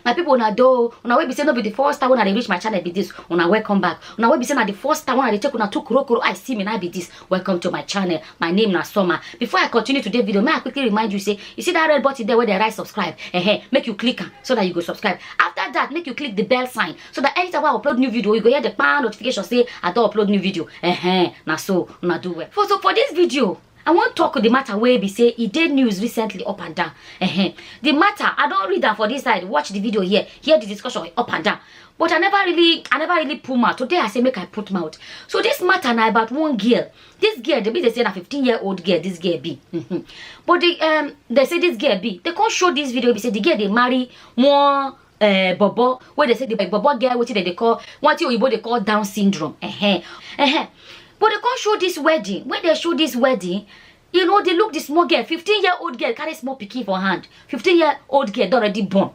my people una do una wey be say no be the first time when i dey reach my channel be this una welcome back una wey be say na the first time when i dey take una two kurokuro i see me na be this welcome to my channel my name na summer before i continue today video may i quickly remind you say you see that red button there where they write subscribe uh-huh, make you click am so that you go subscribe after that make you click the bell sign so that anytime i upload new video you go hear the pan notification say i don upload new video uh-huh, na so una do well for so for this video I wan talk the matter wey be say e dey news recently up and down. Ehem. The matter, I don read am for this side, watch the video here, hear the discussion up and down. But I never really, I never really put mouth. Today I say make I put mouth. So this matter na about one girl. This girl, they be they say na 15 year old girl this girl be. Mhm. but the, um, they say this girl be. They come show this video, be say the girl they marry one uh, bobo wey dey say the bobo get wetin dem dey call wetin oyibo dey call down syndrome uh-huh. Uh-huh. but dem come show this wedding when dem show this wedding you know dey look the small girl fifteen year old girl carry small pikin for hand fifteen year old girl don already born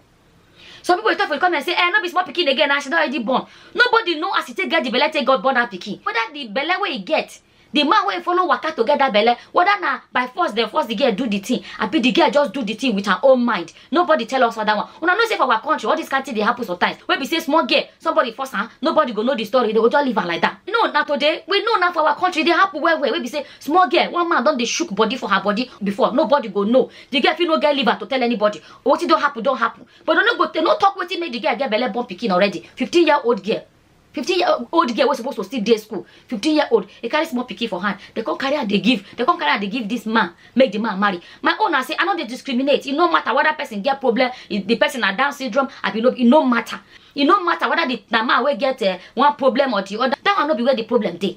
some people dey talk for the comment say eh no be small pikin again na she don already born nobody know as e take get the belle take god born her pikin whether the belle wey e get the man wey follow waka to get that belle whether na by force dem force the girl do the thing abi the girl just do the thing with her own mind nobody tell us other one una know say for our country all this kind thing dey happen sometimes wey be say small girl somebody force am nobody go know the story they go just leave am like that no na today we know na for our country e dey happen well well wey be say small girl one man don dey shook body for her body before nobody go know the girl fit no get liver to tell anybody wetin don happen don happen but dem no go they no talk wetin make the girl get belle born pikin already fifteen year old girl 15 year old girl wey suppose to still dey school 15 year old e carry small pikin for hand dem come carry am dey give dem come carry am dey give this man make the man marry my own na say i no dey discriminate e no matter whether person get problem if the person na down syndrome abi no e no matter e no matter whether the na man wey get uh, one problem or the other that one no be where the problem dey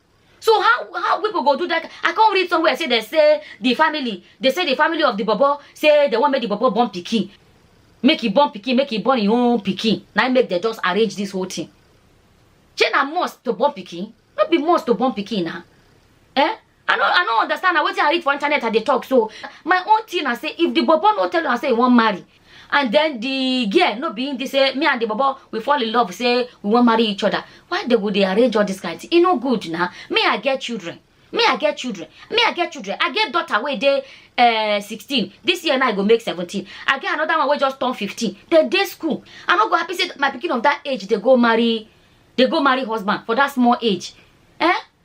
so how how people go do that i come read somewhere say they say the family they say the family of the bobo say they wan make the bobo born pikin make e born pikin make e born im own pikin na im make dem just arrange this whole thing shey na must to born pikin no be must to born pikin na eh i no i no understand na wetin i read for internet i dey talk so my own thing na say if the bobo no tell una say e wan marry and then the girl no be him dey say me and the bobo we fall in love say we wan marry each other why they go dey arrange all this kind thing e no good na me i get children me i get children me i get children i get daughter wey dey uh, 16 this year now i go make 17 i get another one wey just turn 15 dem dey school i no go happy say my pikin of that age dey go marry dey go marry husband for that small age eh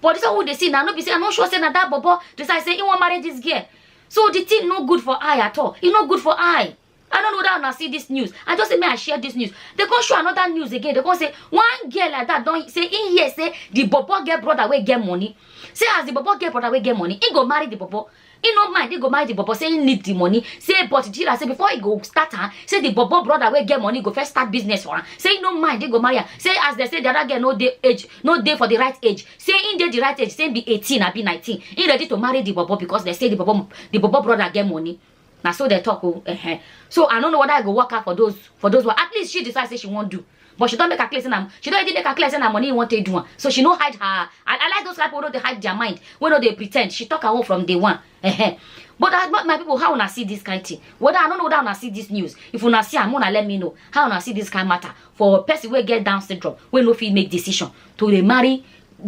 but this one wey dey see na no be say i no sure say na that bobo decide say he wan marry this girl so the thing no good for eye at all e no good for eye i no know whether una see this news i just say make i share this news they come show another news again they come say one girl like that don say he hear say the bobo get brother wey get money say as the bobo get brother wey get money he go marry the bobo he no mind he go marry the bobo say he need the money say but jira say before he go start am say the bobo brother wey get money go first start business for am say he no mind he go marry am say as they say the other girl no dey age no dey for the right age say he dey the right age say he be eighteen abi nineteen he ready to marry the bobo because they say the bobo the bobo brother get money na so dem talk o uh-huh. so i no know whether i go work out for those for those one at least she decide say she wan do but she don make her clear say na she don already make her clear say na money you wan take do am so she no hide her i, I like those people wey no dey hide their mind wey no dey pretend she talk her own from day one uh-huh. but I, my people how una see this kind thing whether i no know whether una see this news if una see am una let me know how una see this kind matter for person wey get down syndrome wey no fit make decision to dey marry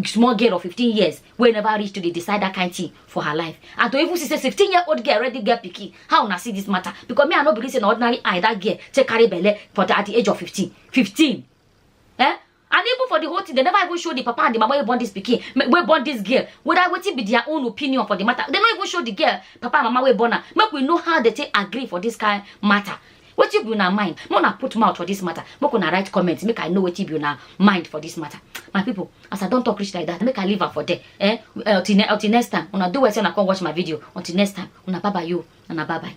small girl of fifteen years wey never reach to dey decide that kind thing for her life and to even see say sixteen year old girl already get pikin how una see this matter because me i no believe say na ordinary eye that girl take carry belle for the, at the age of fifteen fifteen eh and even for the whole thing they never even show the papa and the mama wey born this pikin ma- wey born this girl whether wetin be their own opinion for the matter they no even show the girl papa and mama wey born am make we know how they take agree for this kind matter wetin be una mind make una put mouth for this matter make una write comment make i know wetin be una mind for this matter my people as i don talk reach like that make i leave am for there eh until, ne- until next time una do well say una come watch my video until next time una bye bye yo una bye bye.